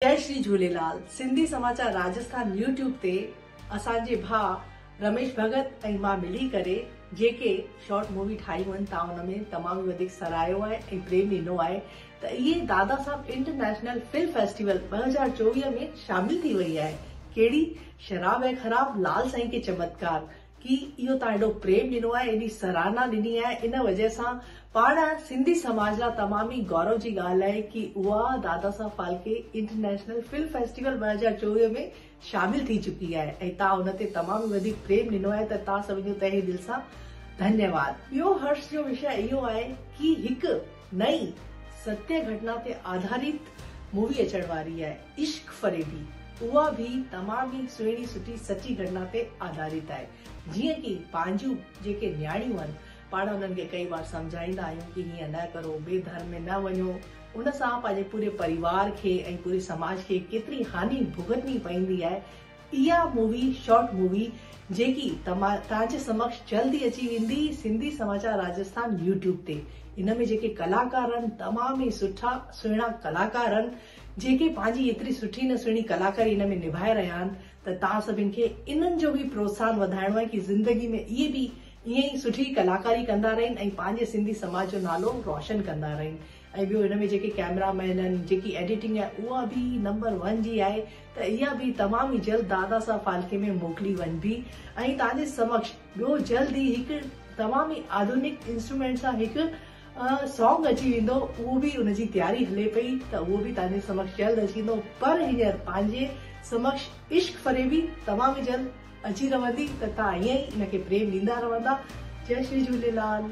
جئي شري جهوليلال سنڌي سماچار راجسٿان يوٽيوب تي اسان جي ڀاء رميش ڀڳت ۽ مان ملي ڪري جيڪي شارٽ مووي ٺاهيون آهن توهان ان ۾ تمام ئي وڌيڪ سراهيو آهي ۽ پريم ڏنو آهي ته اهي Dada Saheb international film festival ٻه هزار چوويهه ۾ شامل ٿي وئي آهي ڪهڙي شراب هي خراب لال سائين ڪي چمتڪار ڪي اهو تان ايڏو پريم ڏنو آهي ايڏي سراهنا ڏني آهي ان وجه سان پاڻ سنڌي سماج لا تمام ئي گورو جي ڳالهه آهي ڪي اها Dadasaheb Phalke international film festival ٻه هزار چوويهه ۾ شامل ٿي چڪي آهي ۽ تان ان تي تمام ئي وڌيڪ پريم ڏنو آهي ته تان سڀن جو تهه دل سان ڌنيواد. ٻيو هرش جو وشيه اهو آهي ڪي هڪ نئين ستيه گهٽنا تي آڌاريت مووي اچڻ واري آهي. عشق فريبي اها به تمام ئي سهڻي سٺي سچي گهٽنا تي آڌاريت آهي جيئن ڪي پنهنجون جيڪي نياڻيون آهن پاڻ انهن کي ڪئي وار سمجهائيندا آهيون ڪي هيئن نه ڪرو ٻي ڌر ۾ نه وڃو ان سان پنهنجي پوري پريوار کي ۽ پوري سماج کي ڪيتري هاني ڀوڳتني پئيندي آهي اها مووي شارٽ مووي جيڪي تان جي سمڪش جلد ئي اچي ويندي سنڌي سماچار راجسٿان يوٽيوب تي ان ۾ جيڪي ڪلاڪار آهن تمام ئي سٺا سهڻا ڪلاڪار آهن جيڪي پنهنجي ايتري سٺي نه سهڻي ڪلاڪاري ان ۾ نڀائي رهيا آهن ته توهان سڀن کي انهن جو به پروتساهن وڌائڻو آهي ڪي زندگي ۾ اهي به ائين ئي سٺي ڪلاڪاري ڪندا رهن ۽ پنهنجي سنڌي سماج جو نالو روشن ڪندا رهن ۽ ٻيو ان ۾ جيڪي ڪئميرا مين آهن جيڪي ايڊيٽنگ آهي اها به نمبر ون جي آهي ته اها به تمام ئي جلد دادا صاحب ڦالڪي ۾ موڪلي وڃبي ۽ توهان جي سمڪش ٻيو جلد ئي هڪ تمام ئي آڌونڪ انسٽرومينٽ سان هڪ سانگ اچي ويندو اهو به ان جي تياري هلي پئي ته اهو به تهنجي سمڪش جلد اچي ويندو پر هينئر پنهنجي سمڪش عشق فريبي توهان به جلد اچي رهندي ته تهان ائين ئي ان کي پريم ڏيندا رهندا جئي شري جهوليلال.